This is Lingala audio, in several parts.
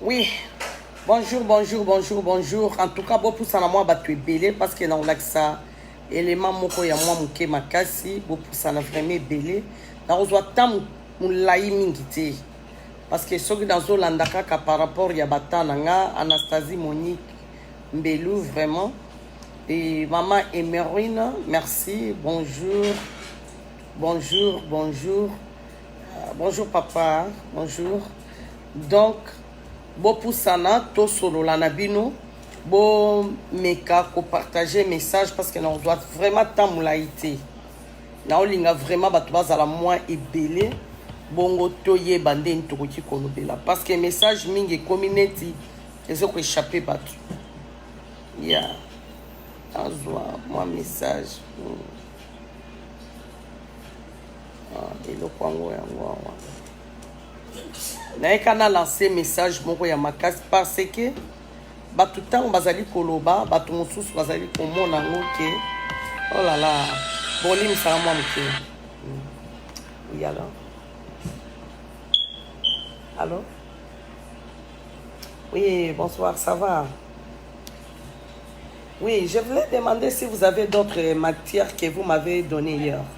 Oui, bonjour, bonjour, bonjour, bonjour. En tout cas, bopusa na mwa bato ebele parce que nakolakisa element moko ya mwa moke makasi. Bopusa na vraiment ebele. Nakozwa ntango molai mingi te parce que soki nazolanda kaka par rapport ya bata na nga Anastasie Monique Mbelu vraiment et maman Emerine merci bonjour bonjour bonjour Ah, bonjour papa, bonjour. Donc, bopusana tosolola na bino bomeka kopartage message parce que nakozwa vraiment ntango molai te naolinga vraiment bato bazala mwa ebele bongo toyeba ndeni tokoki kolobela parce que message mingi ekomi neti ezo koechappe bato ya yeah. azwa mwa message hmm. ah, eloko yango yango awa nayeka na lance message moko ya makasi parce que bato ntango bazali koloba bato mosusu bazali komona yango ke olala oh bolimisaka mwa moke oui alors allô oui bonsoir ça va oui je voulais demander si vous avez d'autres matières que vous m'avez donné hier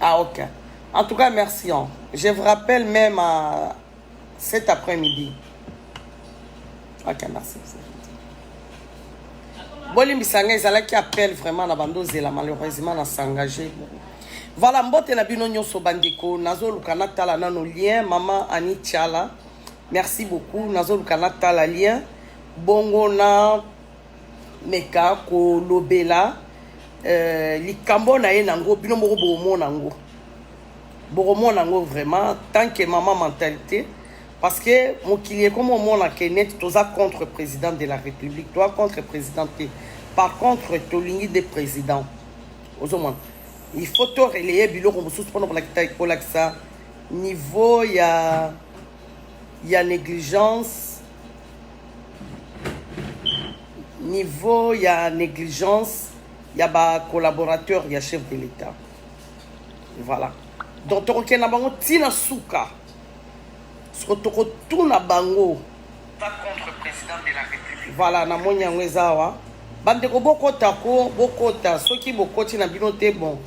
Ah ok. En tout cas, merci. Hein. Je vous rappelle même à cet après-midi. Ok, merci. bolimbisa ngai ezalaki appel vraiment na bando ozela malheureusement na s'engage voilà mbote na bino nyonso bandeko nazoluka natala nano lien mama ani tiala merci beaucoup nazoluka natala lien bongo na meka kolobela euh, likambo na ye nango bino moko bokomona yango bokomona yango vraiment tant que mama mentalité parce que mokili ekomi omona ke neti toza contre président de la république toa contre président te par contre tolingi nde président ozomona il faut to relaye biloko mosusu mpona kolakisa niveau ya ya négligence niveau ya négligence ya ba collaborateur ya chef de l'état voilà donc tokokende na bango ntina suka soko tokotuna bango voilà namoni yango eza awa bandeko bokota ko bokota soki bokoti na bino te bon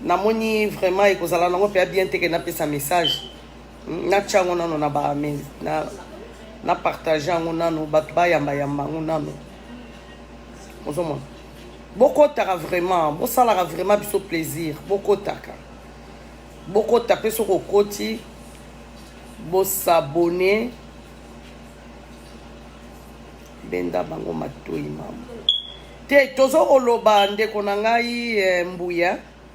namoni vraiment ekozala nango mpe ya bien te ke napesa message natya yango nano na ba na, na partage yango nano bato bayamba yamba yango nano ozomona bokotaka vraiment bosalaka vraiment biso plaisir bokotaka bokota mpe soki okoti bosabone benda bango matoi mama te tozo koloba ndeko na ngai eh, mbuya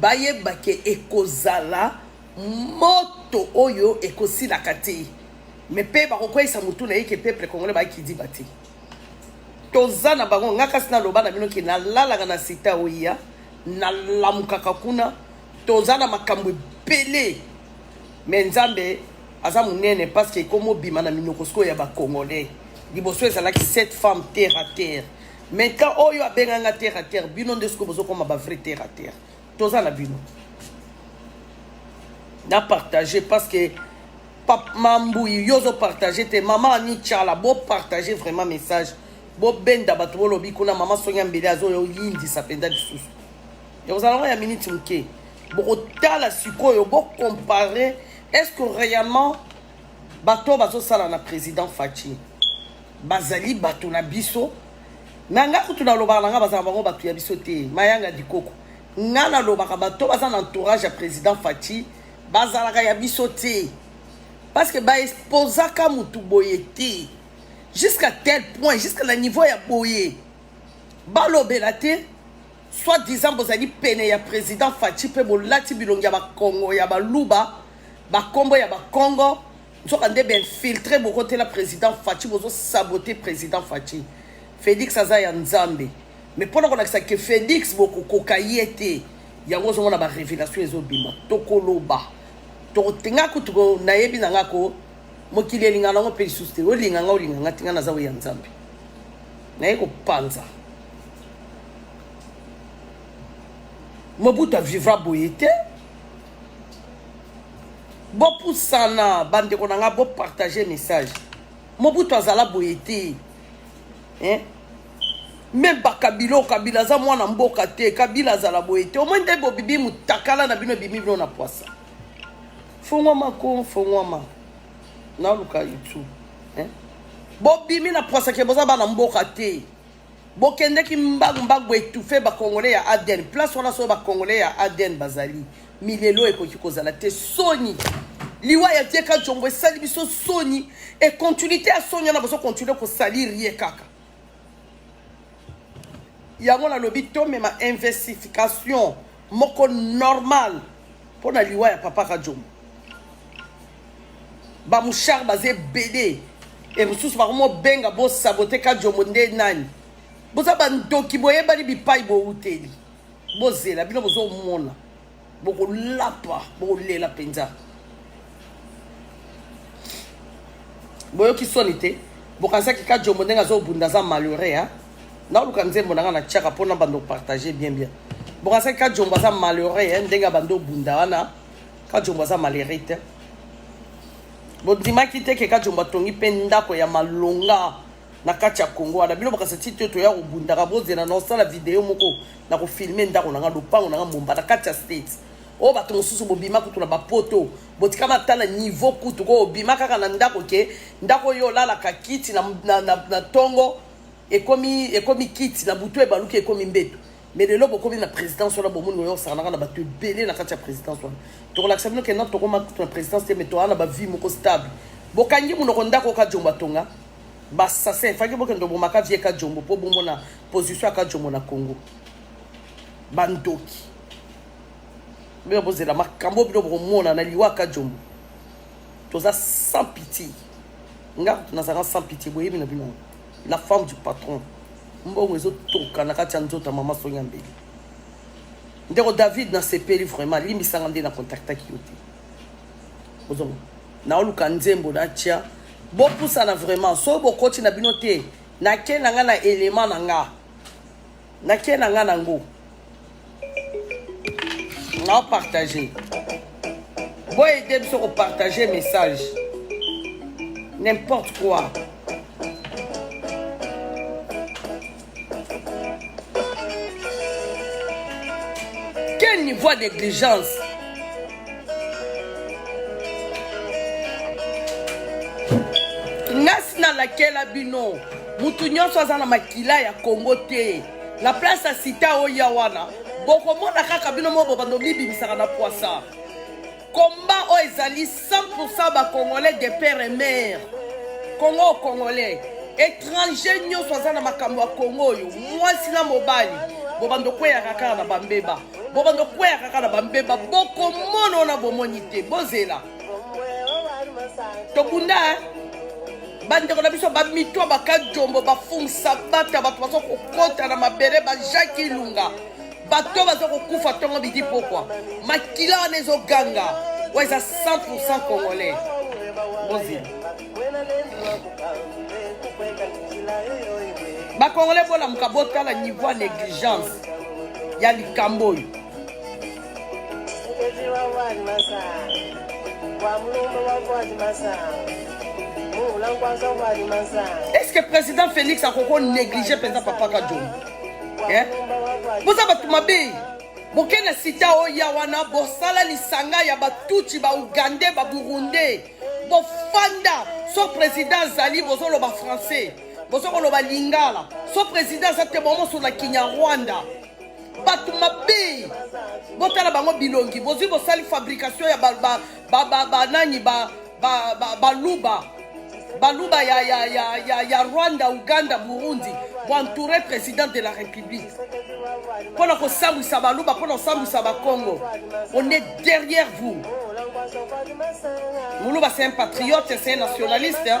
Bayeba ke ekozala moto oyo ekosilaka te mais pe bakokweyisa mutu na ye ke peuple congolais ba kidiba te toza na bango nga kasi naloba na bino ke nalalaka na sita oya nalamukaka kuna toza na makambo ebele me nzambe aza monene parce que ekomi obima na minoko sikoyo ya bacongolais liboso ezalaki cette femme terre à terre Maintenant oyo abenga nga terre à terre bino nde siko bozo koma ba vrai terre à terre toza na bino na partage parce que pap mambuyi yo ozo partage te mama ani tshala bo partage vraiment message bobenda bato bolobi kuna mama songi ya mbele azoyindisa mpenza lisusu ekozala ngo ya miniti moke bokotala sikoyo bocompare est ce que réellement bato bazosala na président faci bazali bato na biso na nga kutu nalobaka na nga bazala bango bato ya biso te mayanga dikoko nga nalobaka bato baza na entourage ya président faci bazalaka ya biso te parce que baexposaka motu boye te jusqu'à tel point jusqu'à na niveau ya boye balobela te soit disant bozali pene ya président faci mpe bolati bilongi ya bakongo ya baluba bakombo ya bakongo nzoka nde ba infiltre bokotela président faci bozosabote président faci félix aza ya nzambe mais mpo na kolakisa ke félix bokokoka ye te yango ozomona barévélation ezobima tokoloba tokotenga kutu nayebi na nga ko mokili elinga nango mpe lisusu te olinga nga olinga nga tinga naza oyo ya nzambe naye kopanza mobutu avivra boye te bopusana bandeko na ngai bopartage message mobutu azala boye te eh? meme bakabila oyo kabila aza mwana mboka te kabila azala boye te omoi nde bobibi motakala na bino ebimi bino na pwasa fongwama ko fongwama naluka youtube eh? bobimi na pwasa ke boza bana mboka te Bokendeki mbangu mbangu bo etoufe ba congolais ya ADN. Place wana solo ba congolais ya ADN bazali. Milelo ekoki kozala te soni. Liwa ya Dieka Jongo esali biso soni et continuité ya soni wana bozo continuer ko salir ye kaka. Yango nalobi tomema investification moko normal mpo na liwa ya papa Kajombo. ba mouchard baza ebele e mosusu bakomobenga bosabote kajombo nde nani boza bandoki boyebani bipai bowuteli bozela bino bozomona bokolapa bokolela mpenza boyoki soni te bokanisaki kajombo ndenge azobunda aza malheureux a naoluka nzembo na ngai na tiaka mpona bando partage bien bien bokanisaki kajombo aza malheureux ndenge abandi obunda wana Kajombo aza malere te bondimaki te ke kajombo atongi mpe ndako ya malonga na kati ya kongo wana bino bakasa ti te toya kobundaka bozela na osala video moko na kofilme ndako na ngai lopango na ngai mbomba na kati ya state oyo bato mosusu bobima kutu na bapoto botika batala niveau kutu ko obima kaka na ndako ke ndako oyo olalaka kiti na, na, na, na tongo ekomi, ekomi kiti na butu ebaluki ekomi mbeto mais lelo bokomi na présidence wana bomoni oyo osakanaka na bato ebele na kati ya présidence wana tokolakisa bino kena tokoma kutu na présidence te mais toaa na bavie moko stable bokangi monoko ndako oka jombo atonga basassin faki bokende obomaka vie ka jombo mpo bomona position ya ka jombo na congo bandoki bino bozela makambo bino bokomona na liwa ka jombo toza sans pitié nga nazalaka sans pitié boyebi na bino yango La femme du patron. Mbongo ezo toka na kati ya nzoto ya mama Sonia Mbele. Ndeko David na sepeli vraiment limbisanga nde na contactaki yo te. Ozongo. Na oluka nzembo na tia. Bopusana vraiment. So bokoti na bino te. Na ke na nga na element na nga. nake na nga nango nao partage boyede biso kopartage message n'importe quoi quel niveau ya négligence nasi nalakela bino mutu nyonso aza na makila ya kongo te na place ya sita oya wana bokomona kaka bino moko bobanda omibimisaka na pwasa komba oyo ezali 100 bacongolais de père et mare kongo congolais étranger nyonso aza na makambo ya kongo oyo mwasi na mobali bobanda okweyaka kaka na bambeba bobanda okweyaka kaka na bambeba bokomono na bomoni te bozela tokunda eh? bandeko na biso bamitwa bakajombo bafungisa bata bato baza kokota na mabele bajaki ilunga bato baza kokufa ntongo bidi pokwa makila wana ezoganga oyo eza 100 congolais bozela bakongolais bolamuka botala niveau ya negligence ya likambo oyo Est-ce que président Félix a koko négligé penza papa Kadjo? Hein? Vous avez tout ma bille. boke na sita oya wana bosala lisanga ya batuti baugandais baburundais bofanda so président azali bozoloba français bozokoloba lingala so président aza te bomosona kinyarwanda bato mabe botala bango bilongi bozwi bosali fabrication ya banani baluba baluba ya, ya, ya, ya, ya rwanda uganda burundi boentoure président de la république mpo na kosambwisa baluba mpo na kosambwisa bakongo on est derrière vous muluba c'est un patriote c'est un nationaliste hein?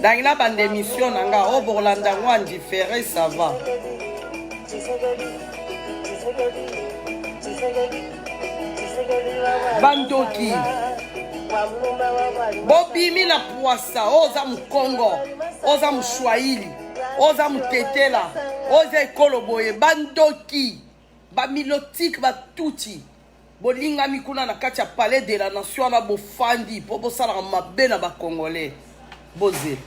dangi na banda émission na nga obokola oh, ndango ya ndifere ça va bandoki bobimi na pwasa oyo oh, oza mokongo oza moswahili oza motetela oza ekolo boye bandoki ba milotique ba tutsi bolingami kuna na kati ya palais de la nation wana bofandi mpo bosalaka mabe na bacongolais boze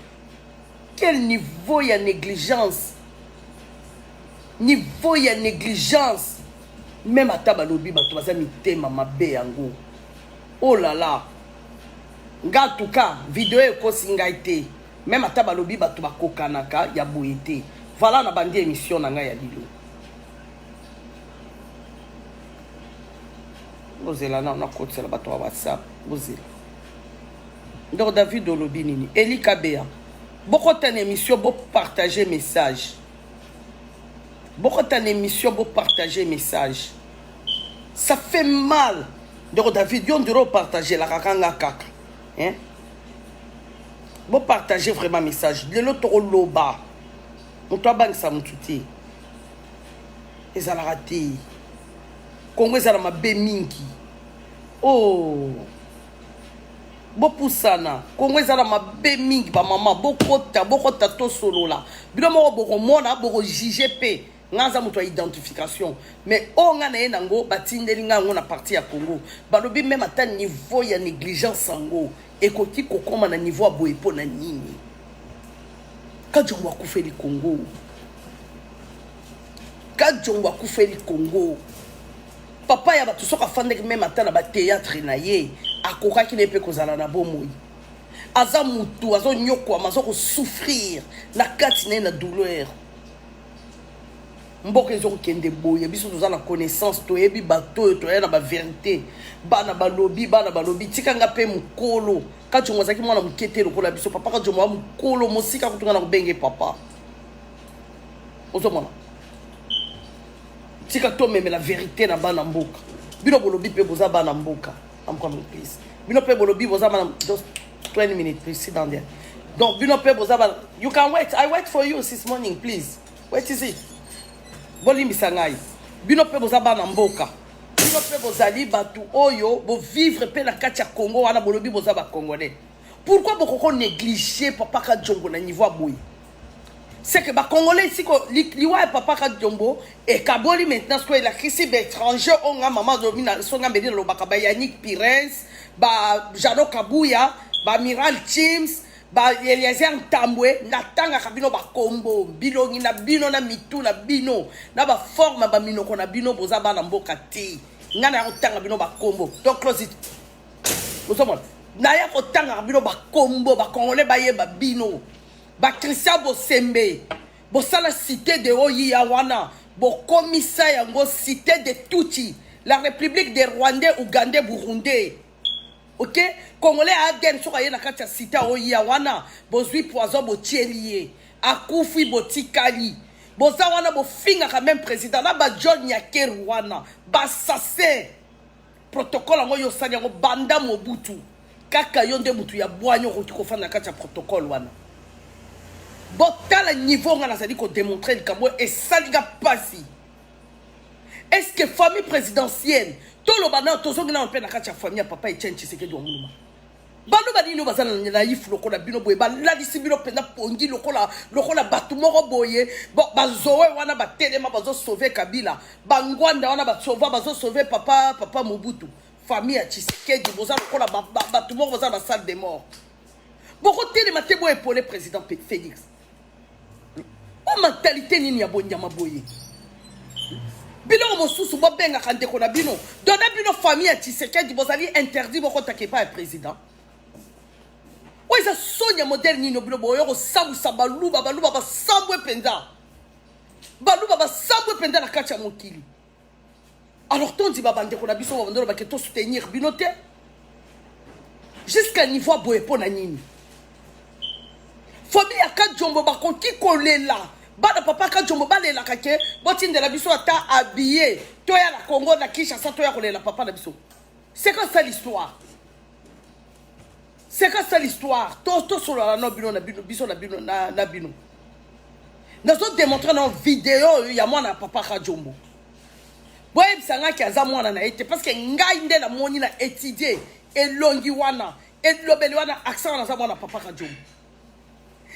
quel niveau ya négligence niveau ya négligence meme ata balobi bato baza mitema mabe yango olala oh nga tuka video ekosi ngai te meme ata balobi bato bakokanaka ya boye te vala na bandi émission na ngai ya lilo bozela nao nakotisela bato ya whatsapp bozela ndoko david olobi nini elika bea bokota na émission bopartage message bokota na émission bopartage message ça fait mal ndeko david yo ndiro opartagelaka kanga kaka hein? Bon, partagez vraiment message lelo tokoloba moto abangisa motu te ezalaka te kongo ezala mabe mingi o oh. bopusana kongo ezala mabe mingi bamama bokota bokota tosolola bino moko bokomona bokojuge mpe nga aza moto ya identification mais oyo nga na ye nango batindeli nga yango na parti ya congo balobi meme ata niveau ya négligence yango ekoki kokoma na niveau ya boye mpo na nini kajongo akufeli congo kajongo akufeli congo papa ya bato soki afandaki meme ata na bateatre na ye akokaki na ye mpe kozala na bomoi aza motu azonyokwama azokosouffrir na kati na ye na douleur mboka ezokokende boye biso toza na connaissance toyebi bato oyo toya na baverité bana balobi bana balobi tika nga mpe mokolo kacongo azalaki mwana moke te lokola biso papa kacongo ya mokolo mosika kutu nga na kobenge papa ozomona tika tomemela verité na bana mboka bino bolobi mpe boza bana mboka I'm coming please. Bino pe bolobi boza bana just 20 minutes please sit down there. Donc bino pe boza bana you can wait. I wait for you since morning please. Wait is it? Bolimbisa ngai. Bino pe boza bana mboka. Bino pe bozali batu oyo bo vivre pe na kati ya Congo wana bolobi boza ba Congolais. Pourquoi bokoko négliger papa Kadjombo na niveau boye? C'est que ba congolais ici ko liwa ya papa Kadjombo et kaboli maintenant ce que la crise étranger on nga maman domina son nga mbedi lobaka ba Yannick Pires, ba Jano Kabuya, ba Miral Chims, ba Eliezer Ntambwe natangaka bino ba kombo bilongi na bino na mitu na bino na ba forme ba minoko na bino boza bana mboka te nga na kotanga bino ba kombo donc close it ozomona naya kotangaka bino bakombo bakongole bayeba bino bakristian bosembe bosala cité de oyiya wana bokomisa yango cité de tuti la république des rwandais ougandais burundais ok congolais ya adn soki aye na kati ya cité oyiya wana bozwi poison botieli ye akufi botikali boza wana bofingaka meme président na bajol nyakeru wana basasin protocole yango yo osali yango banda mobutu kaka yo nde motu ya bwanya okoki kofanda na kati ya protocole wana botala niveau nga nazali kodemontre likambo oyo esali nga mpasi est ce que famille présidentielle toloba nayo tozongi nayo mpe na kati ya famille ya papa etienne tshisekedi wa nguluma baluba nini oyo baza na nayifu lokola bino boye balalisi bino mpenza pongi lokola lokola bato moko boye bazoe wana batelema bazosauve kabila bangwanda wana basova bazosauve papa papa mobutu famille ya tshisekedi boza lokola bato moko baza na basale de mort bokotelema te boye epole président félix o mentalité nini ya bonyama boye biloko mosusu bobengaka ndeko na bino dona bino famille ya tshisekedi bozali interdit bokotaka epai ya président oyo eza soni ya modele nini obino boyo kosambwisa baluba baluba basambwe mpenza baluba basambwe mpenza na kati ya mokili alors tondima bandeko na biso babandolo bake tosoutenir bino te jusqu'à niveau ya boye mpo na nini famille ya kajombo bakoki kolela bana papa kajombo balelaka ke botindela biso ata abiye toya na congo na kinshasa toya kolela papa na biso c'est quoi ça l'histoire C'est quoi ça l'histoire tosolala no bino na bino biso na bino na bino nazo démontre na video oyo ya mwana ya papa kajombo boyebisa ngai ke aza mwana na ye te parce que ngai nde namoni na étudie elongi wana elobeli wana accent wana aza mwana papa kajombo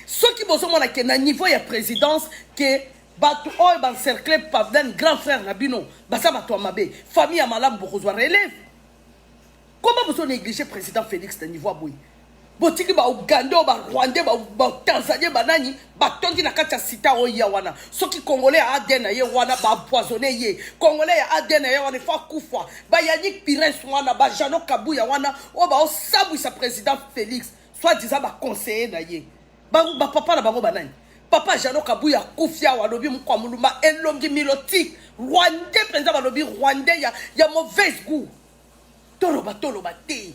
soki bozomona ke na niveau ya présidence ke bato oyo bancercle pavdan grand frère na bino baza bato ya mabe famille ya malamu bokozwa relève Comment vous négligez le président Félix de niveau boye botiki ba Ougandais, ba Rwandais, ba, ba Tanzaniens, ba nani batondi na kati ya sita oyo ya wana soki congolais ya ADN na ye wana ba empoisonné ye congolais ya ADN na ye wana ifo akufa ba Yannick Pires wana ba Jeannot Kabuya wana oyo baosabwisa président Félix soit disant ba conseiller na ye ba, ba papa na bango banani papa jano kabuya akufi awa alobi mokwa molumba elongi miloti rwandais mpenza balobi rwandais ya, ya mauvaise goût toloba toloba te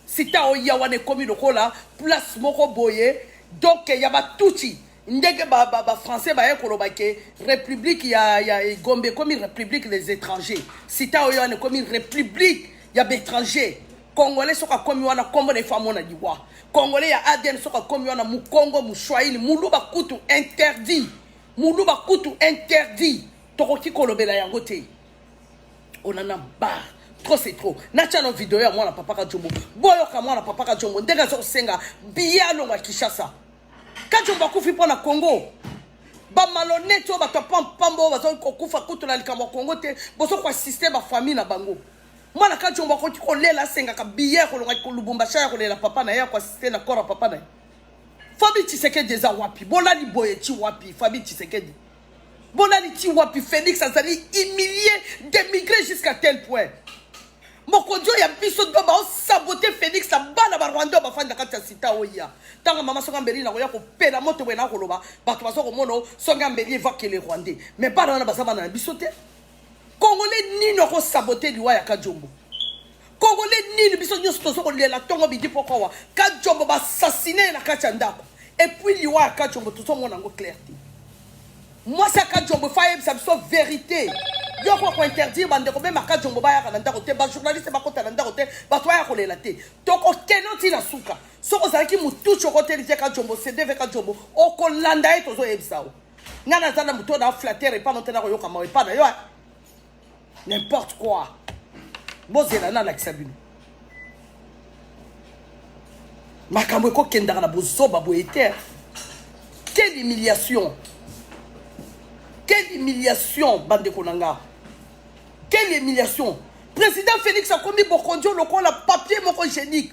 sita oya wana ekomi lokola place moko boye donc ya batuti ndenge bafrançais baye koloba ke république ya, ya gombe ekomi république les étrangers sita oya wana ekomi république ya baétranger Congolais soki akomi wana kombo na ifo amona liwa. Congolais ya ADN soki akomi wana mukongo, mushwahili, muluba kutu interdit. Muluba kutu interdit. Tokoki kolobela yango te. On en a marre. trop c'est trop natya no video ya mwana papa kajombo boyoka mwana papa kajombo ndenge aza kosenga biye alongwa kinshasa kajombo akufi mpo na congo bamalonete oyo bato ya pampamba oyo bazali kokufa kutu na likambo ya congo te bozo koasiste bafamille na bango mwana kajombo akoki kolela asengaka biye ya kolongaki kolubumbasha ya kolela papa na ye ya koasiste na kora papa na ye fabi tshisekedi eza wapi bolali boye ti wapi fabi tshisekedi bolali ti wapi félix azali humilie démigre jusqu'à tel point mokonzi oyo ya biso do baosabote félix na bana barwanda oyo bafandi na kati ya sita oya ntango mama songa mbeli nakoya kopela moto boye nakoloba bato baza komona songa mbeli evakele rwandais mais bana wana baza bana na biso te Congolais nini oko saboter liwa ya Kajombo? Congolais nini biso nyoso tozo kolela tongo bidi poko wa Kajombo ba assassiner na kati ya ndako et puis liwa ya Kajombo tozo mona ngo clair te. Mwasi ya Kajombo fa yebisa biso verite. Yo ko ko interdire bande ko mema Kajombo ba yaka na ndako te, ba journaliste ba kota na ndako te, ba to ya kolela te. Toko keno ti na suka. Soko zalaki mutucho ko telite Kajombo, CDV Kajombo, okolanda ye tozo yebisa yo. nga naza na moto na flatere epa no te nakoyoka mawa epa na yo n'importe quoi bozela nalakisa bino makambo ekokendaka na bozoba boye te quelle humiliation quelle humiliation bandeko na nga quelle humiliation président félix akomi bokondio lokola papier moko génique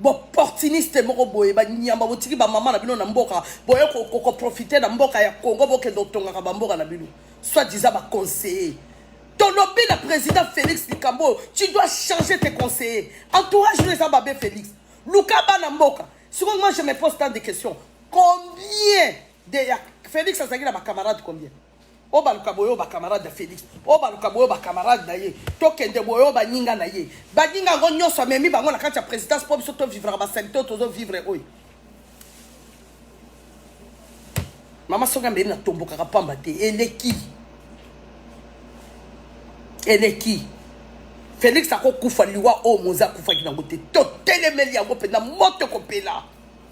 boportuniste moko boye banyamba botiki bamama na bino na mboka boye koprofite na mboka ya congo bokende kotongaka bamboka na bino soit disa baconseiller tolobi na président félix likambo oyo tu dois changer tes conseiller entourage no eza babe félix luka bana mboka sikoyo moi je me pose tant de question combien de ya félix azalaki na bacamarade combien obaluka boyo ba camarade ya felix obaluka boyo ba camarade na ye tokende boyo baninga na ye baninga yango nyonso amemi bango na kati ya présidence mpo biso tovivraka basalite oyo tozovivre oyo mama soki ambeli natombokaka mpamba te eleki eleki felix akokufa liwa oyo moza akufaki nango te totelemeli yango mpenza moto ekopela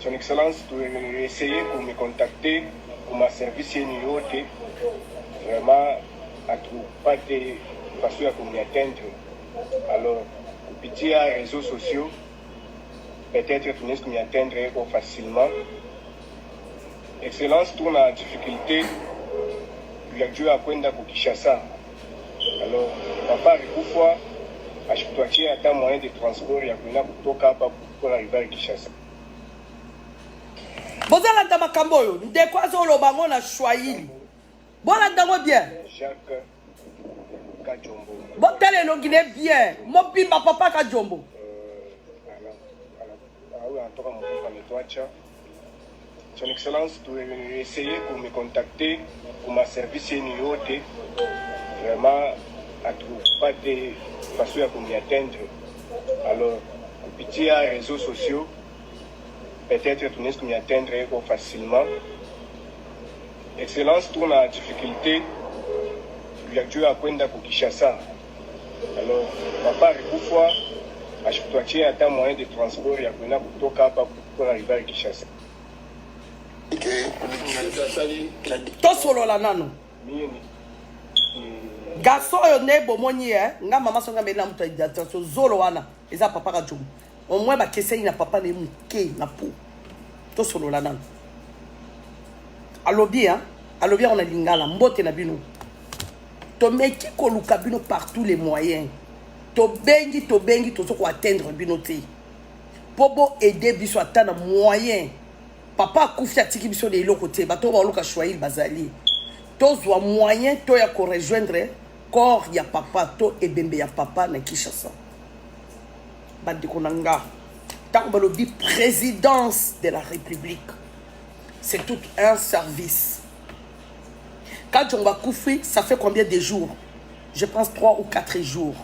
Son Excellence, to essayer ko me contacter pour ma service yenu yote. Vraiment, atupate façon ya komi atteindre. Alors, kupitia réseaux sociaux, peut-être tunaweza kumi atteindre eko facilement. Excellence, tuna difficulté ya juu ya kwenda ku Kinshasa. Alors, papa alikufa ashituachia hata moyen de transport ya kwenda kutoka hapa bozalanda makambo oyo ndeko azoloba yango na swahili bolanda yango bien botala elongi ne bien mobimba papa kajombo euh, Son Excellence, tu essayer pour me contacter pour ma service yeni yote vraiment atrouve pas te façon ya komi atteindre alors kupitia réseaux sociaux peut-être tunaweza komi atteindre yeko facilement Excellence, tuna difficulté ya juu ya kwenda ku Kinshasa Alors, papa Rikufwa, ashituachie ata moyen de transport ya kwenda kutoka hapa kuna river Kinshasa. tosolola nano garçon oyo nde bomoni ye nga mama songa mbeli na moto ya identification zolo wana eza papa kajomo Au moins ba kesei na papa ne muke na po. To solola nanu. Alobi hein, alobi on a lingala mbote na bino. To meki koluka bino par tous les moyens. To bengi to bengi to soko atteindre bino te. Po bo aider biso ata na moyen. Papa akufi atiki biso de eloko te. Bato ba oluka choix bazali. tozwa moyen to ya korejoindre corps ya papa to ebembe ya papa na kinshasa bandeko na nga ntango balobi présidence de la république c'est tout un service kadjongo akufi ça fait combien de jours je pense 3 ou 4 jours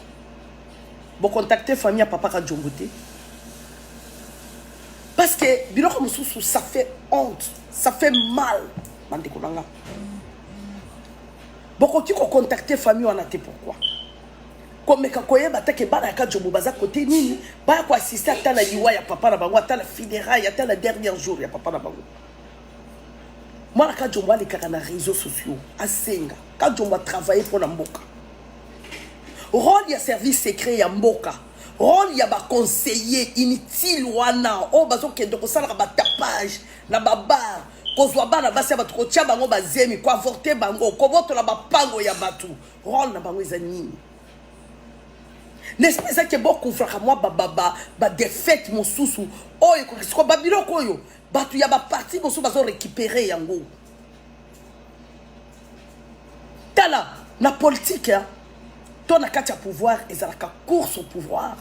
bocontacte famille ya papa kadjongo te parce que biloko mosusu ça fait honte ça fait mal bandeko na nga bokoki kocontacte famille wana te pourquoi komeka koyeba ata ke bana ya kajobo baza kote nini baya koassiste ata na liwa ya papa na bango ata na funéraille ata na dernier jour ya papa na bango mwana kajombo alekaka na réseau sociaux asenga kajombo atravaille mpo na mboka role ya service secret ya mboka role ya baconseiller inutile wana oyo bazokende kosalaka batapage na babar kozwa bana basi ya bato kotya bango bazemi koavorte bango kobotola bapango ya bato role na bango eza nini nesprit eza ke bokoufraka mwa badefete mosusu oyo ekokisi ko babiloko oyo bato ya baparti mosusu bazo récupere yango tala na politike hein, to na kati ya pouvoir ezalaka course au pouvoir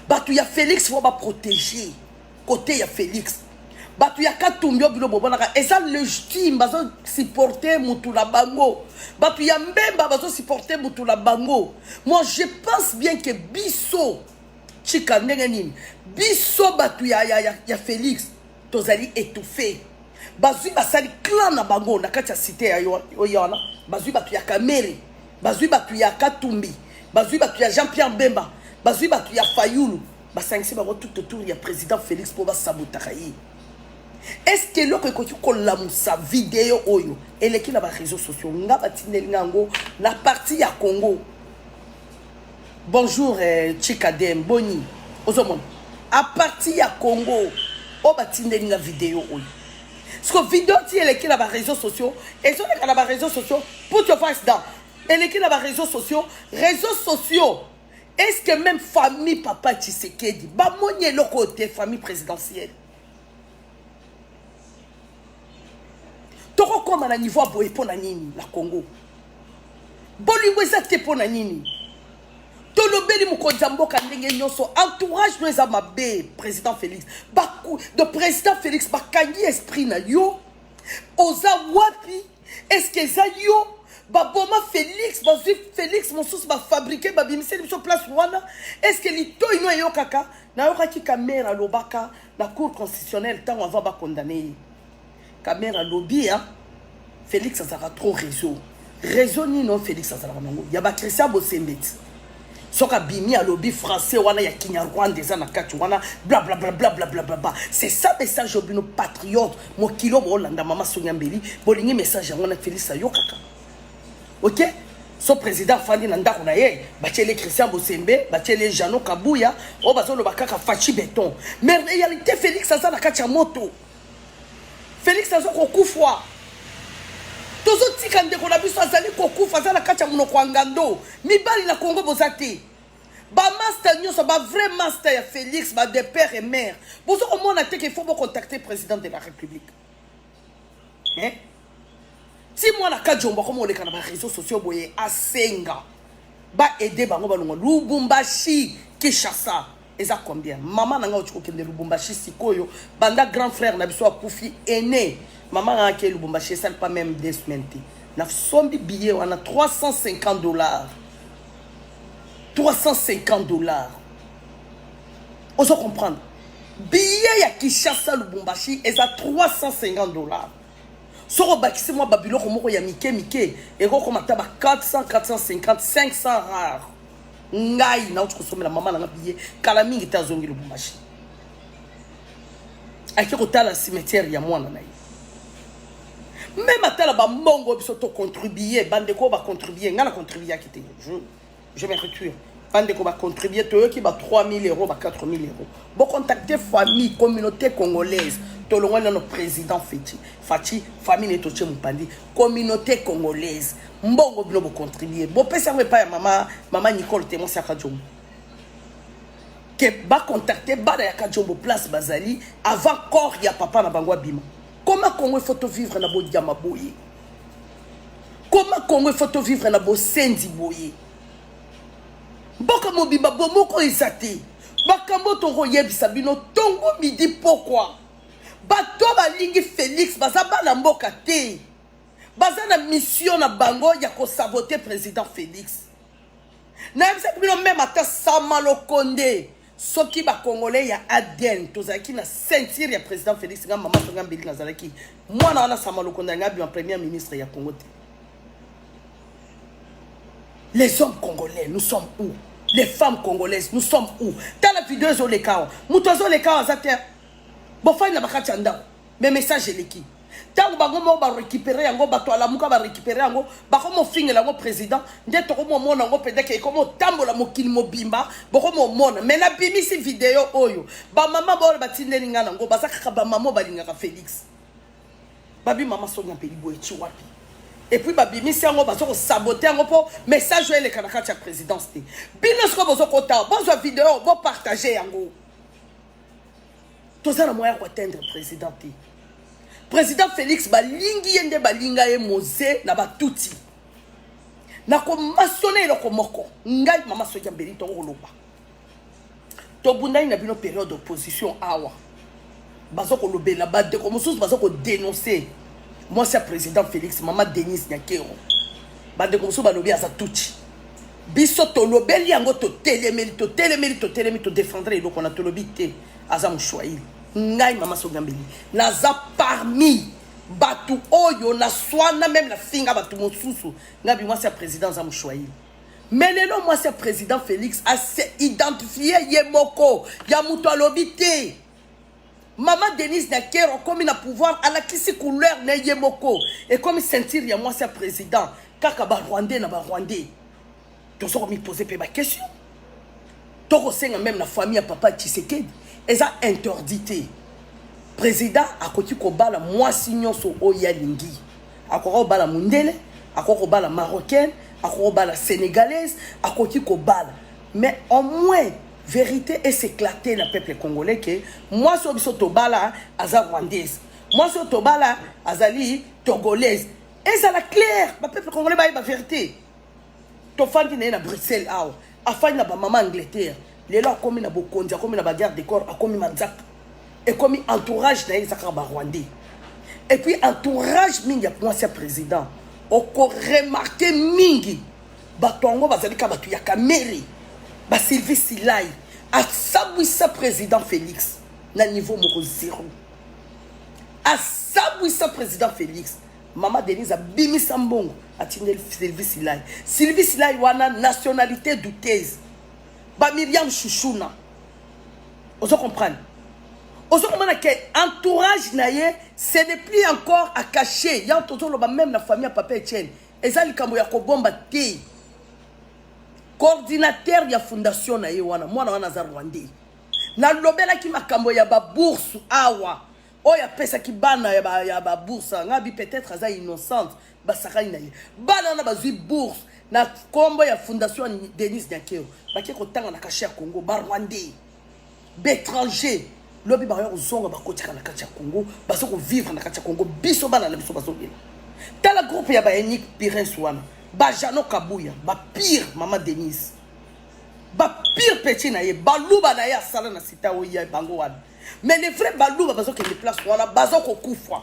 bato ya félix fo baprotege Kote ya Felix bato ya katumbi oyo bino bomonaka eza legitime bazosupporte motu na bango bato ya mbemba bazosupporte motu na bango moi je pense bien ke biso chika ndenge nini biso bato ya, ya, ya, ya félix tozali étouffe bazwi basali clan na bango na kati ya site ya oyo wana bazwi bato ya kamere bazwi bato ya katumbi bazwi bato ya jean pierre bemba bazwi bato ya fayulu basangisi bango tout autour ya président félix mpo basabotaka ye eske eloko ekoki kolamusa video oyo eleki na bareseau sociaux nga batindeli nga yango na parti ya congo bonjour eh, chikadem boni ozomona a parti ya congo oyo oh, batindeli nga video oyo siko video ti eleki na bareseau sociaux ezoleka na bareseau sociaux put your face down eleki na bareseau sociaux réseau sociaux est ce que même famille papa tshisekedi bamoni eloko oyo te famille présidentielle tokokóma na niveau ya boye mpo na nini na congo bolingo eza te mpo na nini tolobeli mokonzi ya mboka ndenge nyonso entourage no eza mabe président félix de président félix bakangi esprit na yo oza wapi est-ce que eza yo baboma félix bazwi félix mosusu bafabrike babimiseli biso place wana est ce que litoi no eyokaka nayokaki kamere alobaka na cour constitutionnelle ntango avant bakondane ye kamere alobi ya félix azalaka trop réseau réseau nino félix azalaka nango ya bakristian bosembeti soki abimi alobi français wana ya kinyarwanda eza na kati wana blablablablablablabla c'est ça message oyo bino patriote mokili oyo boolanda mama sonia mbeli bolingi message yango na felix ayokaka ok so président afandi na ndako na ye batieli christian bosembe batieli jano kabuya oyo bazoloba kaka faci beton mais réalité félix aza na kati ya moto Felix azo kokufwa tozotika ndeko na biso azali kokufa aza na kati ya monoko ya ngando mibali na kongo boza te bamaster nyonso bavrai master ya félix ba de père et mère bozo komona te ke faut bocontacte président de la république eh? ti mwana kajombo akoma oleka na ba réseaux sociaux boye asenga ba aide bango balongwa lubumbashi kinshasa eza combien mama na ngai otiki kokende lubumbashi sikoyo banda grand frère na biso akufi ene mama ngai akei lubumbashi esali pa meme deux semaine te nasombi billet wana 350 dollars 350 dollars ozo comprendre billet ya kinshasa lubumbashi eza 350 dollars soki obakisi mwa babiloko moko ya mike mike ekokoma ata ba 400 450 500 rare ngai nauti kosombela mama na nga biye kala mingi te azongi lubumbashi ake kotala cimetière ya mwana na ye meme atala bambongo biso tocontribue bandeko oyo bacontribue ngai nacontribuaki te Je me retire. bandeko bacontribue toyoki ba 3000 euros ba 4000 euros bocontacte famille communauté congolaise tolongwani nano président feti faci famille neti otie mopandi communauté congolaise mbongo bino bocontribue bopesi yango epai ya mama mama nicole te mwasi ya kadiomo ke bacontacte bana ya kadiomo place bazali avant corps ya papa na bango abima koma congo ifo tovivre na bodiama boye koma congo ifo tovivre na bosenzi boye mboka mobimba bomoko eza te makambo tokoyebisa bino tongo midi pokwa bato balingi félix baza bana mboka te baza na mission na bango ya kosabote président félix nayebisaki bino meme ata sama lokonde soki ba congolais ya ADN tozalaki na ceinture ya président Félix nga maman tonga mbili nazalaki mwana wana sama lokonda nga bima premier ministre ya Congo te les hommes congolais nous sommes où les femmes congolaises nous sommes où tala video ezoleka awa moto azoleka awa aza te bofandi na bakati ya ndako mais message eleki ntango bango moko barécupere yango bato alamuka barécupere yango bakomofingela yango président nde tokomomona yango mpenza ke ekomotambola mokili mobimba bokomomona mai nabimisi video oyo bamama baoyo batindeli ngai nango baza kaka bamama oyo balingaka félix babi mama sonia mpeli boye ti wapi epuis babimisi yango baza kosabote yango mpo message oyo eleka na kati ya présidence te bino sikoyo bozokota bozwa video bopartage yango toza na moyen ya koatteindre président te président félix balingi ye nde balinga ye moze na batuti nakomasone eloko moko ngai mama soki ya mbeli tokoloba tobundani na bino periode opposition awa baza kolobela bandeko mosusu baza kodenonse mwasi ya président félix mama denise nyakero bandeko mosusu balobi aza tutsi biso tolobeli yango totelemeli totelemeli totelemi todefendre eloko wana tolobi te aza moswahili ngai mama sogambeli naza parmi bato oyo naswana meme nafinga bato mosusu ngai bimwasi ya président aza moswahili me lelo mwasi ya président félix ase identifie ye moko ya moto alobi te Maman Denise Dakero komi na pouvoir alakisi couleur na ye moko ekomi ceinture ya mwasi ya président kaka ba rwandais na ba rwandais tozo komi poser pe ba question tokosenga meme na famille ya papa Tshisekedi eza interdit te président akoki kobala mwasi nyonso oyo alingi akoki kobala mondele akoki kobala marocaine akoki kobala sénégalaise akoki kobala Mais au moins verite est s'éclater na peuple congolais que moi so biso tobala aza rwandaise. Moi so tobala azali togolaise. Et ça la clair, ba peuple congolais ba ba verite. To fandi na Bruxelles awa. Afandi na ba maman Angleterre. Lelo akomi na bokonzi, akomi na ba guerre de corps, akomi manzaka. Ekomi entourage na ye ezaka ba rwandais. Et puis entourage mingi ya mwasi ya président. Oko remarquer mingi. Bato yango bazali kaka bato ya Kamerhe, ba Sylvie Silai asabwisa president Felix na niveau moko zero, asabwisa president Felix. Mama Denise abimisa mbongo atindeli Sylvie Silai, Sylvie Silai wana nationalite douteuse, ba Miriam Shushuna, ozo comprendre ozo komona ke entourage na ye ce n'est plus encore à cacher yango tozoloba même na famille ya papa etienne eza likambo ya kobomba te coordinateur ya fondation na ye wana mwana wana aza rwandais nalobelaki makambo ya babourse awa oyo apesaki bana ya babourse anga bi peut-être aza innocente basakani na ye bana wana bazwi bourse na nkombo ya fondation denis nyakeo bake kotanga na kashe ya congo barwandais B'etranger lobi bakoya kozonga bakotika na kati ya Congo bazo kovivre na kati ya Congo biso bana na biso bazobela tala groupe ya baenik pires wana bajano kabuya bapire mama denise bapire peti na ye baluba na ye asala na sita oyo ya bango wana mais les vrai baluba bazokende place wana bazokokufa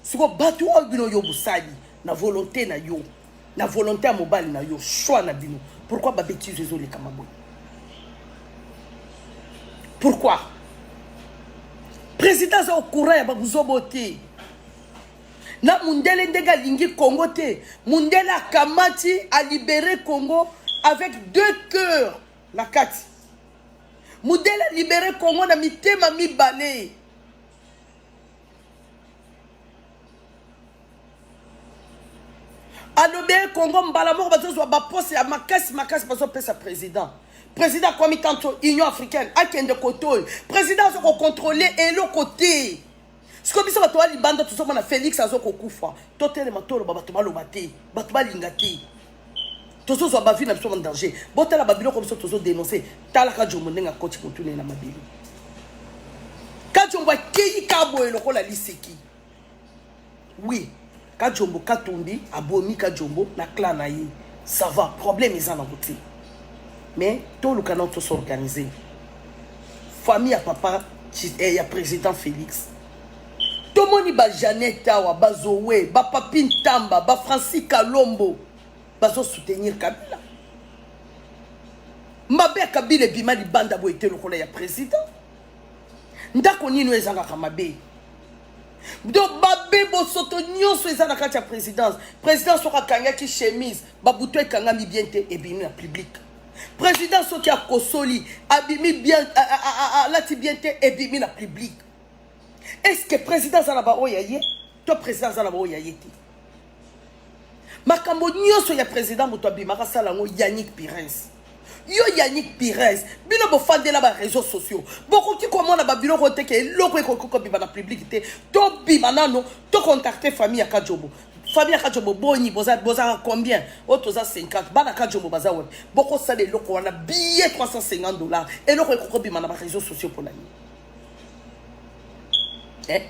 siko bato oyo bino yo bosali na volonté na yo na volonté ya mobali na yo choix na bino pourquoi babetise ezolekama boye pourquoi président aza okura ya babuzobo te na mundele ndenge alingi congo te mundele akamati alibere congo avec deux cœurs na kati mundele alibere congo na mitema mibale alobi ye congo mbala moko bazozwa baposte ya makasi makasi bazopesa président président akwami tanto union africaine akende kote oyo président aza kocontrole eloko te sikoyo biso bato ya libanda tozomona félix aza kokufa totelema toloba bato baloba te bato balinga te tozozwa bavi na biso na danger botala babiloko biso tozodenonse talaka jombo ndenge akoti motuna ye na mabele kajombo akeyi kaboye lokola liseki Oui, Kajombo Katumbi abomi Kajombo na clan na ye. Ça va, problème eza na kote. Mais toluka na to s'organiser. Famille ya papa eh, ya président Félix. Tomoni ba Jeannette awa, ba Zoé, ba Papi Ntamba, ba Francis Kalombo bazo soutenir Kabila. Mabe ya Kabila ebima libanda boye te lokola ya président. Ndako nini oyo ezangaka mabe? donc babe bosoto nyonso eza na kati ya présidence présidence soki akangaki chemise babutu ekangami bien te ebimi na public président soki akosoli abimi bien alati bien te ebimi na public est ce que président aza na baoyo ya ye to président aza na baoyo ya ye te makambo nyonso ya président moto abimaka asala yango yannick pirins yo yannick pirins bino bofandela bareseau sociaux bokoki komona babiloko te ke eloko ekoki kobima na publike te tobima nano tocontacte famille ya kajobo famille ya kajobo boni bozalaka combien oyo toza 50 bana kajobo baza wapi bokosala eloko wana billet 350 dollars eloko ekoki kobima na bareseau sociaux mpo na nini eh?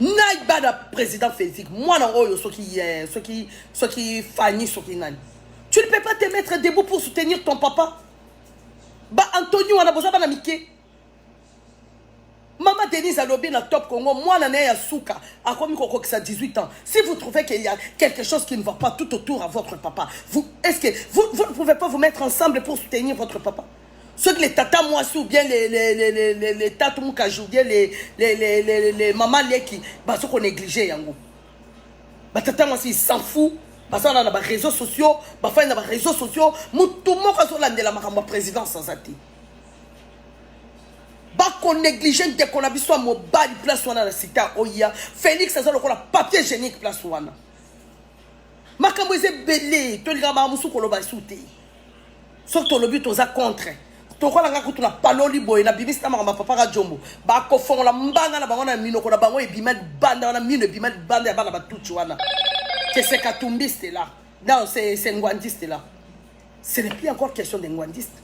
ngai bana président physique mwana oyo soki ye soki soki fani soki nani tu ne peux pas te mettre debout pour soutenir ton papa ba antoni wana boza bana mike mama denise alobi na top congo mwana na ye ya suka akomi kokokisa 18 ans si vous trouvez qu'il y a quelque chose qui ne va pas tout autour à votre papa vous est ce que vous, vous ne pouvez pas vous mettre ensemble pour soutenir votre papa soki le tata mwasi ou bien le, le, le, le, le, le tatu mukaji ou bien le, le, le, le, le, le mama leki bazo konéglige yango batata mwasi s'en fou bazala na baréseau sociaux bafandi na baréseau sociaux motu moko azolandela makambo ya présidence aza te bakonéglige ndeko na biso ya mobali place wana na sita oya félix aza lokola papier génique place wana makambo eza ebele tolingaka makambo mosusu koloba esu te soki tolobi toza contre tokola nga kutu na paloli boye na bimisi na makambo ya papa ka jombo bakofongola mbanga na bango na minoko na bango ebima libanda wana mino ebima libanda ya bana batuti wana que c'est katumbiste là non c'est c'est ngwandiste là ce n'est plus encore question de ngwandiste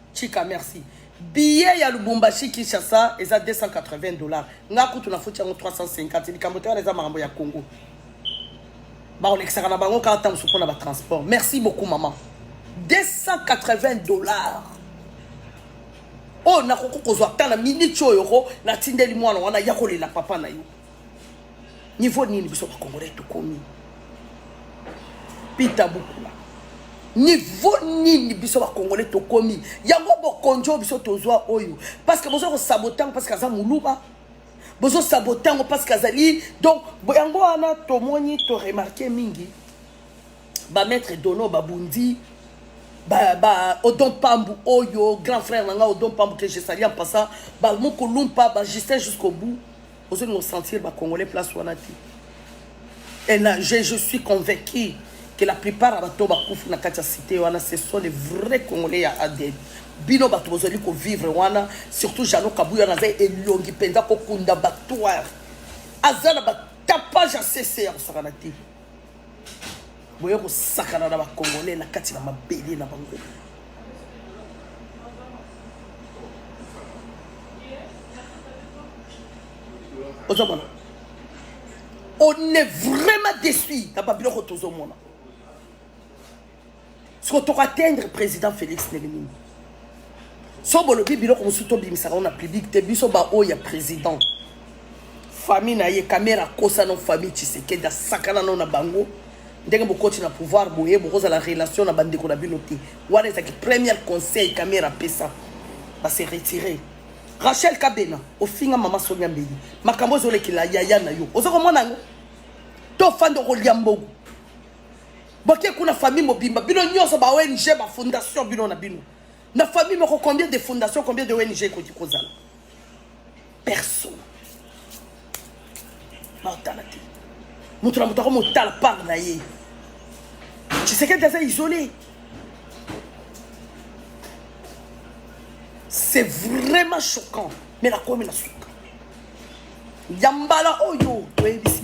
Chika merci. Billet ya Lubumbashi Kinshasa eza 280 dollars. Nga kutu na futi yango 350 likambo te wana eza makambo ya Congo. Bakolekisaka na bango kaka ntango mosusu mpo na batransport. Merci beaucoup maman. 280 dollars. oyo oh, nakoki kozwa ata na miniti oyo ko natindeli mwana wana ya kolela papa na yo niveau nini biso bakongolais tokomi pita bukula niveau nini biso bakongolais tokomi yango bokonzi oyo biso tozwa oyo parceke boza kosabote yango parceke aza moluba bozosabote yango parceke azali donc yango wana tomoni toremarke mingi bamaître dono babundi ba, ba odon pambu oyo grand frère na ngai odon pambu que je sali en passant bamokolumpa bajustin jusqu'au bout ozolinga osentir ba congolais place wana te et na je, je suis convaincu que la plupart ya bato bakufi na kati ya cité wana ce sont les vrais congolais ya adn bino bato bozali kovivre wana surtout jano kabuya naza elongi mpenza kokunda batoire aza na batapage ya cc ya kosakana te boye kosakana na bakongole na kati na mabele na bango ozomona on est vraiment déçu na babiloko tozomona siko toko atteindre président félix ndenge nini so bolobi biloko mosusu tobimisaka ngo na public te biso baoyo ya président famille na ye kamera akosa no famille tshisekedi asakana no na bango ndenge bokoti na pouvoir boye bokozala relation na bandeko na bino te wana ezalaki première conseil kamera apesa base retire rachel kabena ofinga mama sonia mbeli makambo ozolekela yaya na yo oza komona yango tofanda okolia mbogo Boke kuna famille mobimba bino nyoso ba ONG ba fondation bino na bino. Na famille moko combien de fondations combien de ONG ekoki kozala? Personne. Ba otala te. Mutu na mutu akomotala part na ye. Tshisekedi aza isolé. C'est vraiment choquant. Mais la commune a suka. Ya mbala oyo toyebisi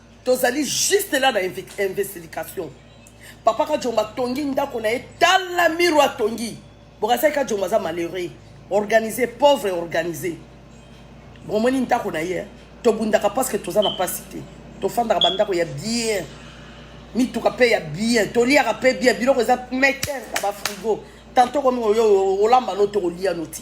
tozali juste là na investigation papa kajombo atongi ndako na ye tala miro atongi bokasaki kajombo aza malheureux organisé pauvre organisé bomoni ndako na ye eh? tobundaka parceke toza na mpasi te tofandaka bandako ya bien mituka mpe ya bien toliaka mpe bien biloko eza meke na bafrigo tanto komi olamba no tokolia no ti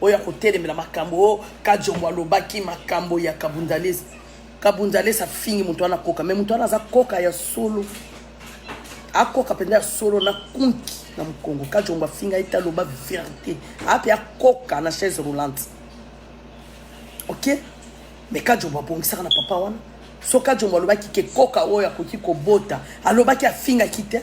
oyo akotelemela makambo oyo oh, kajombo alobaki makambo ya kabundalesa kabundalesa afingi moto wana koka me moto wana aza koka ya solo akoka mpenza ya solo na kunki na mokongo kajombo afinga ye te aloba verité ape akoka na chaise roulante ok me kajombo abongisaka na papa wana so kajombo alobaki ke koka oyo akoki kobota alobaki afingaki te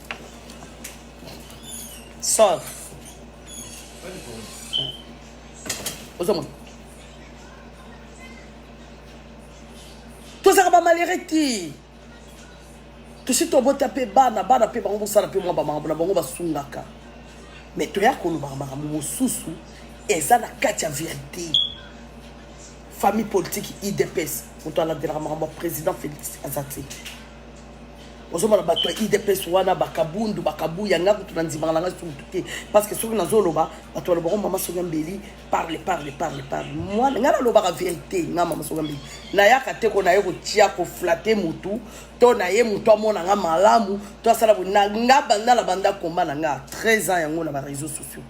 Sauf. ozomona tozalaka bamalere te tosi tobota mpe bana bana mpe bango bosala mpe mwa bamakambo na bango basungaka me toya kolobaka makambo mosusu eza na kati ya verité famille politique idps moto aladelaka makambo ya président félix aza te ozomona bato ya idps wana bakabundu bakabuya nga kutu na ndimaka na ngai sutu te parce que soki nazoloba bato balobaka oh, mama soki mbeli parle parle parle parle mwana ngai nalobaka verité nga mama soki mbeli nayaka te ko naye kotia koflate motu to naye motu amona nga malamu to asala nga banda na banda komba na nga 13 ans yango na bareseau sociaux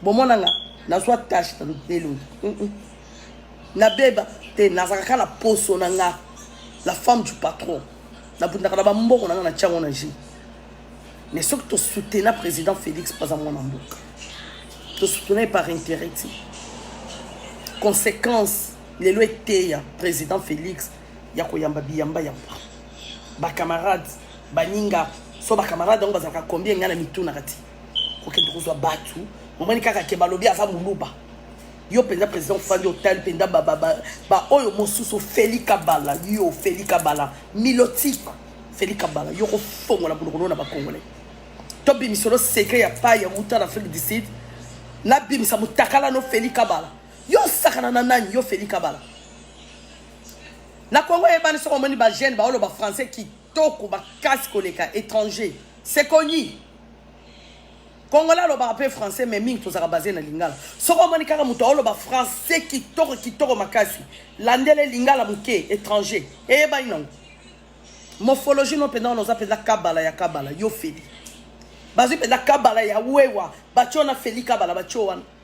bomona nga nazwa tache na elongi mm -mm. nabeba te nazalaka kaka na poso na nga la femme du patron nabundaka na bambongo na nga na tiango na jeu mais soki tosutena président félix mpo aza mwana mboka tosutena ye par intérêt te conséquence lelo eteya président félix ya koyamba biyamba yamba bacamarade baninga so bacamarade yango bazalaka combien ngai na mitunaka te kokende kozwa batu omoni kaka ke balobi aza muluba yo mpenza président ofandi otali mpenza baoyo mosusu ofeli kabala yo ofeli kabala milotika ofeli kabala yo kofongola monokolo na bakongolais tobimisa olo secret ya pai ya wuta na afrique du sud nabimisa motakala no ofeli kabala yo osakana na nani yo ofeli kabala na kongo eyebani soko omoni bagene baoloba français kitoko makasi koleka étranger c'est connu congolais alobaka mpe français mais mingi tozalaka base na lingala soki omoni kaka moto aoloba français kitoko kitoko makasi landele lingala moke étranger eyebani nango morphologie no mpenza wana oza mpenza kabala ya kabala yo feli bazwi mpenza kabala ya wewa batyo wana feli kabala batyo wana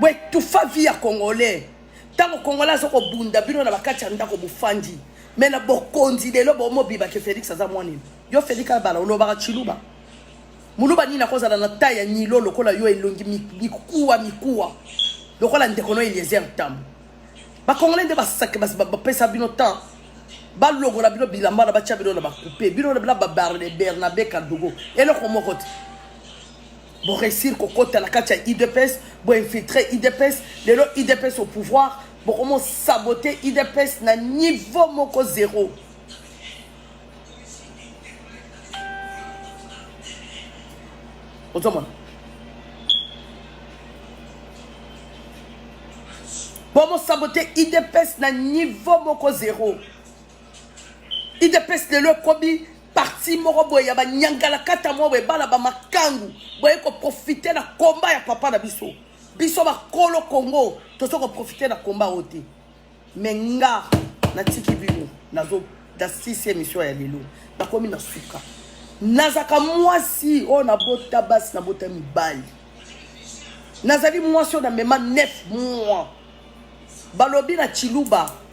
boetufa vie ya congolais ntango congolais aza kobunda bino na bakati ya ndako bofandi me na bokonzi lelo bomobiba ke félix aza mwanini yo félix abala olobaka chiluba muluba nini akozala na tai ya nilo lokola yo elongi mikuwa mikuwa lokola ndeko no eliezer ntambo bakongole nde basake bapesa bino temps balongola bino bilamba na batya bino na bakupe bino na bernabe kadogo eloko moko te Bo réussir ko kota na kati ya IDPS, bo infiltrer IDPS, lelo IDPS au pouvoir, bo komo saboter IDPS na niveau moko zéro. ozomona bomosabote idps na niveau moko zero idps lelo ekomi parti moko boye ya banyangalakata moko boye bana bamakangu boye koprofite na komba ya papa na biso biso bakolo kongo toza koprofite na komba oyo te me nga natiki bino nazo na sisi emission ya lelo nakomi na suka nazaka mwasi oyo nabota basi nabota mibali nazali mwasi oyo namema 9 mois balobi na chiluba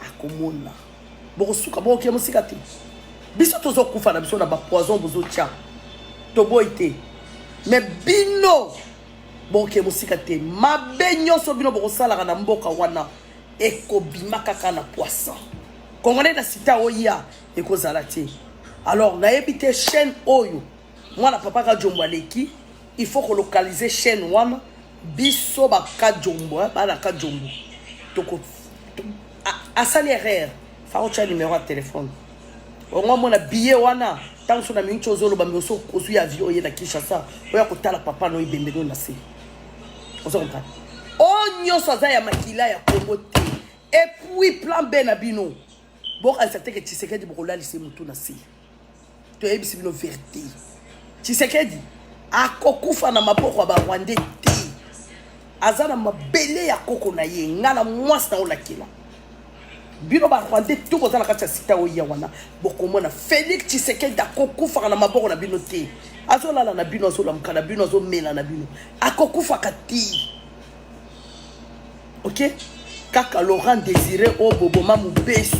akomona bokosuka bokokia mosika te biso tozokufa na biso na bapoison bozotya toboyi te me bino bokokia mosika te mabe nyonso bino bokosalaka na mboka wana ekobima kaka na poisson congolais na sita oya ekozala te alors nayebi te chaîne oyo mwana papa kajombo aleki il faut kolocalize chaîne wana biso bakajombo eh, bana kajombo toko asali erreur faotya numero ya telefone ongo amona biye wana ntango so na mingi tyo ozoloba mi oso ozwi avion oye na kinshasa oya kotala papa no ebembe no na se ozo comprendre oyo oh, nyonso aza ya makila ya kongo te epuis plan b na bino bokanisa teke tshisekedi bokolalisa ye motu na se toyebisi bino verite tshisekedi akokufa na maboko ya barwandais te aza na mabele ya koko na ye ngai na mwasi na olakela bino barwandais to boza na kati ya sita oya wana bokomona félix tshisekedi akokufaka na maboko na bino te azolala na bino azolamuka na bino azomela na bino akokufaka te ok kaka laurent désiré oyo boboma mobesu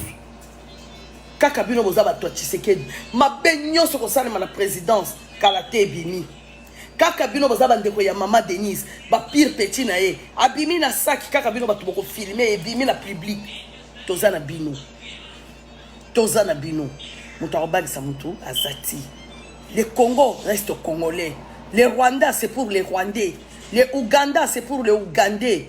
kaka bino boza bato ya tshisekedi mabe nyonso kosalema na présidence kala te ebimi kaka bino boza bandeko ya mama denise bapire petit na ye abimi na saki kaka bino bato bokofilme ebimi na public toza na bino toza na bino moto akobangisa motu aza ti le congo reste congolais le rwanda c'est pour le rwandais le ouganda c'est pour le ougandais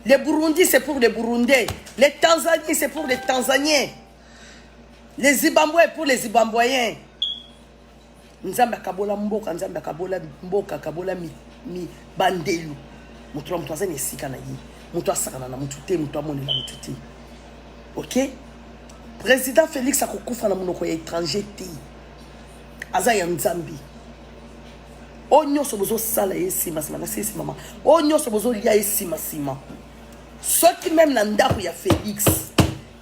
Le Burundi, c'est pour les Burundais. Les Tanzanie, c'est pour les Tanzaniens. Les Zimbabwe, pour les Zimbabwéens. Nzambe akabola mboka, Nzambe akabola mboka, akabola mi, mi bandelu. Mutu mutu azani esika na ye. Mutu asakana na mutu te, mutu amoni na mutu te. OK? Président Félix akokufa na munoko ya étranger te. Aza ya Nzambe. oyo nyonso bozosala ye nsima nsima nasi nsima mama oyo nyonso bozolia ye nsima nsima soki meme na ndako ya félix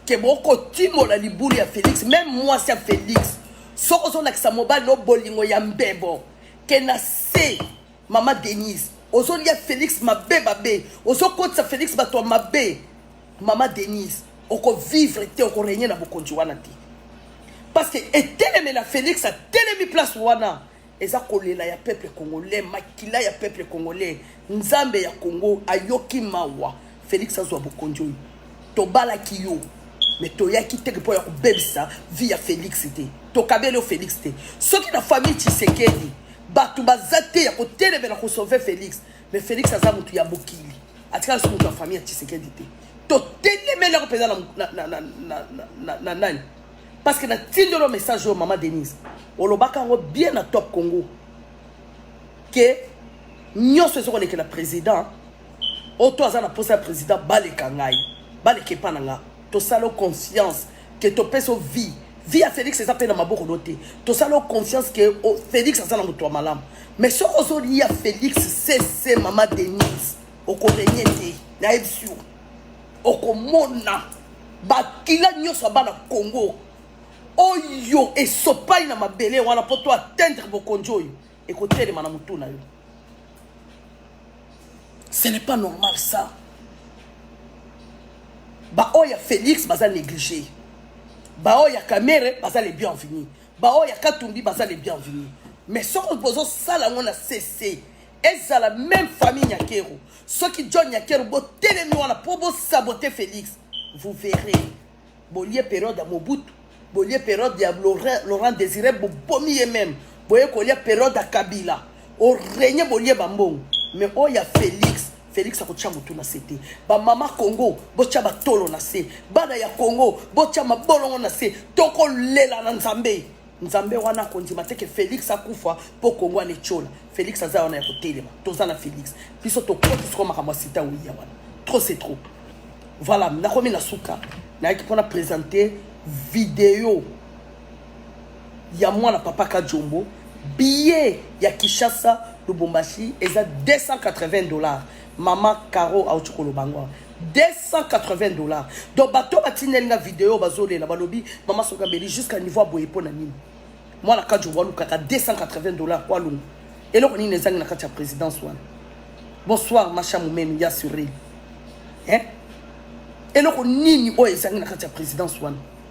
ke bokotimola libulu ya félix meme mwasi ya félix soki ozolakisa mobali no bolingo ya mbebo ke na se mama denise ozolia félix mabe mabe ozokotisa félix bato ya mabe mama denise okovivre te okorenye na bokonzi wana te parce que etelemela félix atelemi place wana eza kolela ya peuple congolais makila ya peuple congolais nzambe ya congo ayoki mawa félix azwa bokonzi oyo tobalaki yo me toyaki teke mpo ya kobebisa vi ya félix te tokabeli yo félix te soki na famille tshisekedi bato baza te ya kotelemela kosauve félix me félix aza moto ya mokili atikala so moto ya famille ya tshisekedi te totelemeli yango mpenza na nani parce que natindeli yo message oyo mama denise olobaka yango bien na top congo ke nyonso eza kolekela président oyo to aza na mposa ya président baleka ngai baleka epa na nga tosala conscience ke topesa o vie vie ya félix eza mpe na maboko no te tosala o conscience ke o félix aza na moto ya malamu mais soki ozolia félix sese mama denise okorenye te nayebisi yo okomona bakila nyonso ya bana congo oyo esopai na mabele wana mpo to atteindre bokonzi oyo ekotelema na motu na yo ce n'est pas normal ça baoyo ya félix baza néglige baoyo ya kamere baza le bienvenu baoyo ya katumbi baza le bienvenu mais soki bozosala yango na cc ezala meme famille nyakeru soki john nyakeru botelemi wana mpo bosabote félix vous verrez bolie periode ya mobutu bolie periode ya laurent désiré bobomi ye meme boye kolia periode ya kabila orenye bolie bambongo mais oyo ya félix félix akotya motu na se te bamama congo botya batolo na se bana ya congo botya mabolongo na se tokolela na nzambe Nzambe wana akondima te ke Felix akufa po Kongo ana etiola. Felix aza wana ya kotelema. Toza na Felix. Biso tokoti siko makambo ya sita wiya wana. Trop c'est trop. Voilà, nakomi na suka. Nayaki pona presenter video ya mwana papa Kajombo. Billet ya Kinshasa Lubumbashi eza 280 dollars. Maman Caro auti koloba yango awa. 280 dollars. Donc bato oyo batindeli nga video oyo bazolela balobi mama soki abeli jusqu'à niveau ya boye mpo na nini? Mwana Kadjo walukaka 280 dollars mpo alonga. Eloko nini ezangi na kati ya présidence wana? Bonsoir Masha Mumenu ya sureli. Hein? Eloko nini oyo ezangi na kati ya présidence wana?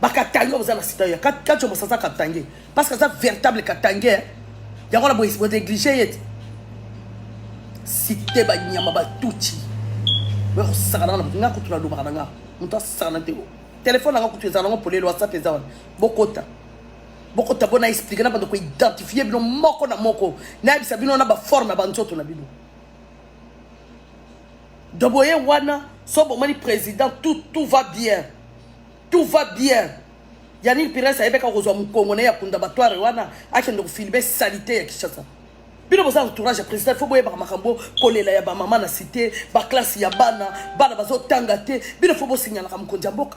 bakatange oza na sida ya kacho mosa aza katange parce que aza véritable katange eh. yango na bonéglige ye te site banyama batuti bakosakana na moto nga kutu nalobaka na nga moto asakana te telefone nanga kutu ezala nango polele whatsapp eza wana bokota bokota bona explike na bando koidentifie bino moko na moko nayebisa bino na baforme ya banzoto na bino Donc boye wana so bomoni président tout tout va bien. Tout va bien. Yannick Pires ayebeka kozwa mukongo na ya kunda batware wana akende kofilibe salite ya Kinshasa. bino boza entourage ya président fo boyebaka makambo kolela ya bamama na site baklasse ya bana bana bazotanga te bino fo bosignalaka mokonzi ya mboka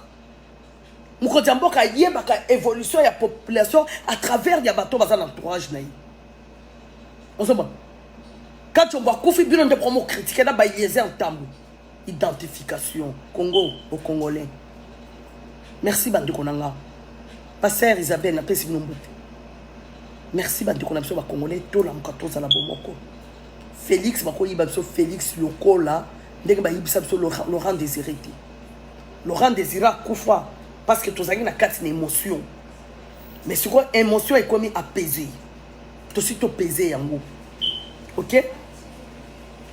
mokonzi ya mboka ayebaka évolution ya population à travers ya bato baza na entourage na ye ozomona kachombo akufi bino nde promo critique na baeliezer ntambu identification congo au congolais merci bandeko na nga pasteur isabelle napesi bino mbote merci bandeko na biso bacongolais tolamuka tozala bomoko félix bakoyiba biso félix lokola ndenge bayibisa biso laurent désiré te laurent désiré akufa parce que tozalaki na kati na émotion mais sikoyo emotion ekomi apese tosi topese yango ok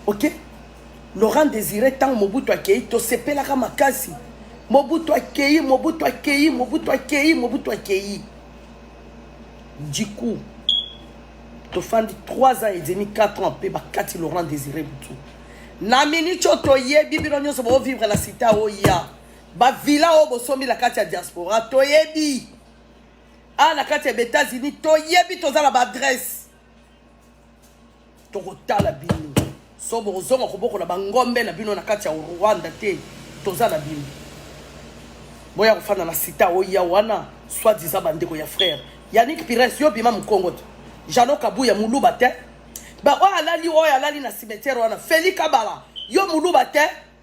ok laurent désiré ntango mobutu akei tosepelaka makasi mobutu akei mobutu akei mobutu akei mobutu akei du coup tofandi 3 ans et demi 4 ans mpe bakati laurent désiré butu na miniti oyo toyebi bino nyonso boovivre na sita oya Ba villa oyo bosombi na kati ya diaspora toyebi. Ah na kati ya États-Unis toyebi toza na ba adresse. Tokotala bino. So bokozonga kobokola ba ngombe na bino na kati ya Rwanda te toza na bino. Boya kofanda na sita oya wana soit disant bandeko ya frère. Yannick Pires yo bima mkongo te. Jeannot Kabuya muluba te. Ba oyo alali oyo alali na cimetière wana Feli Kabala yo muluba te.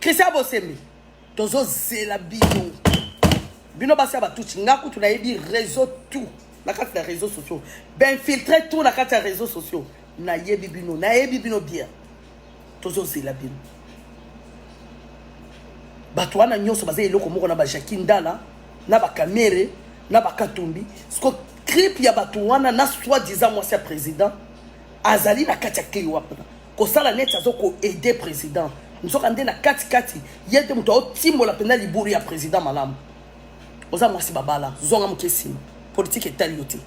Christian Bosembe tozozela bino bino basi ya batuti nga kutu nayebi réseau tout na kati na réseau sociaux bainfiltre tout na kati ya réseau sociaux nayebi bino nayebi bino bien tozozela bino bato wana nyonso baza eloko moko na bajaki ndala na bakamere na bakatumbi siko tripe ya bato wana na soi disant mwasi ya président azali na kati ya kei wapna kosala neti azo ko aide president nzoka nde na katikati ye nde moto aotimbola mpenza libulu ya president malamu oza mwasi babala zonga moke nsima politike etali yo te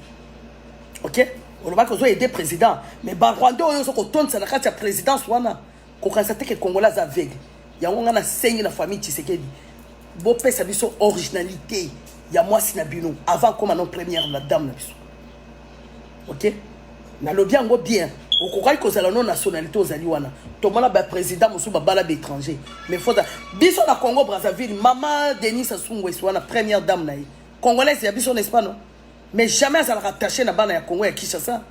ok olobaki ozo aide president mais barwandais oyo ozo kotondisa na kati ya présidence wana kokanisa te ke congolais aza aveugle yango ngai nasengi na famille tshisekedi bopesa biso originalité ya mwasi na bino avant akoma non première la dame na biso ok nalobi yango bien okokaki kozala no nationalité ozali wana tomona baprésident mosusu babala baétranger mais fota biso na congo brazzaville mama denis asungwesi wana première dame na ye congolaise ya biso n'est-ce pas non mais jamais azalaka attaché na bana ya congo ya kinshasa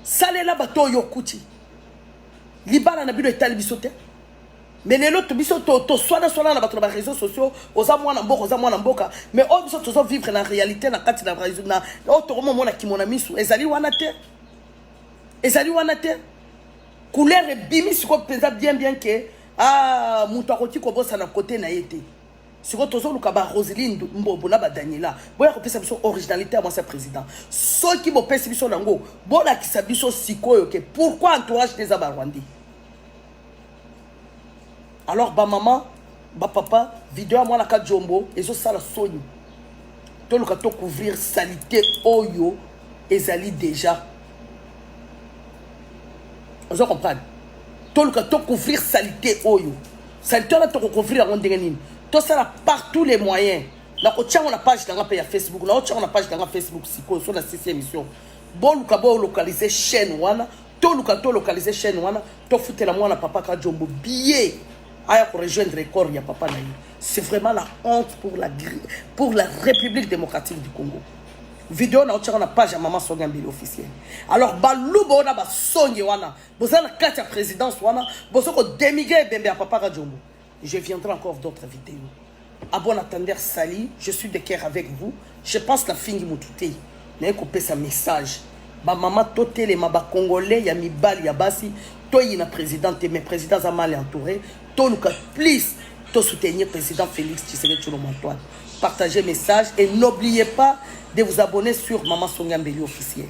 salela bato oyo okuti libala na bino etali biso te mais lelo to biso to to swana swana na bato na ba réseaux sociaux oza mwana mboka oza mwana mboka mais oyo biso tozo vivre na réalité na kati na réseau na oyo tokoma mona kimona misu ezali wana te ezali wana te couleur ebimi sikoyo mpenza bien bien ke ah moto akoki kobosana kote na ye te sikoyo tozoluka ba roseline mbombo na badaniela boya kopesa biso originalité ya mwasi ya président soki bopesi biso nango bolakisa biso sikoyo ke pourquoi entourage te eza barwandais alors ba maman ba papa video ya mwana kajombo ezosala soni toluka to couvrir salite oyo ezali déjà ozo comprendre toluka to couvrir salite oyo salite wana tokocouvrir yango ndenge nini tosala par tous les moyens nakotia yango na page na nga mpe ya facebook naotia yango na page na nga facebook sikoyo so na sisi émission boluka bolocalize chaîne wana toluka to localiser chaîne wana tofutela mwana papa kajombo billet aya ko rejoindre corps ya papa na ye c'est vraiment la honte pour la, pour la république démocratique du congo video na otyaka na page ya mama songi ambili officiel alors baluba oyo na basonge wana boza na kati ya présidence wana boza kodemigre ebembe ya papa kajombo Je viendrai encore d'autres videos. A bon attendeur sali, je suis de cœur avec vous. Je pense na fingi mutu te. Na ko pesa message. Ba mama to telema ba congolais ya mibali ya basi to yina président te mais président za mal entouré. To luka please to soutenir président Félix Tshisekedi Tshilombo Antoine. Partagez message et n'oubliez pas de vous abonner sur Maman Sonia Mbeli officiel.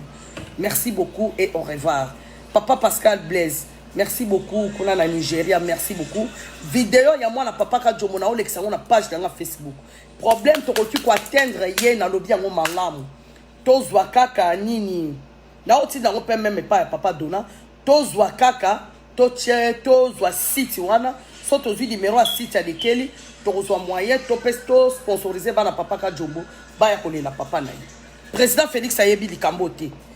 Merci beaucoup et au revoir. Papa Pascal Blaise Merci beaucoup kuna na Nigeria merci beaucoup video ya mwana papa Kadjomo na olekisa ngo na page na nga Facebook problème tokoki ko atteindre ye na lobi yango malamu tozwa kaka nini na otinda ngo pe meme pa ya papa Dona tozwa kaka to tie tozwa site wana so tozwi numero ya site ya likeli tokozwa moyen to pe to sponsoriser bana papa Kadjomo baya kolela papa na ye président Félix ayebi likambo te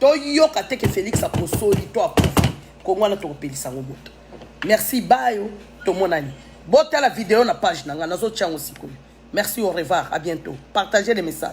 toyoka te ke felix akosoli to akufi kongo wana tokopelisa yango moto merci bayo tomonani botala video na page na ngai nazotya yango sikoyo merci au revoir à bientôt partagez les messages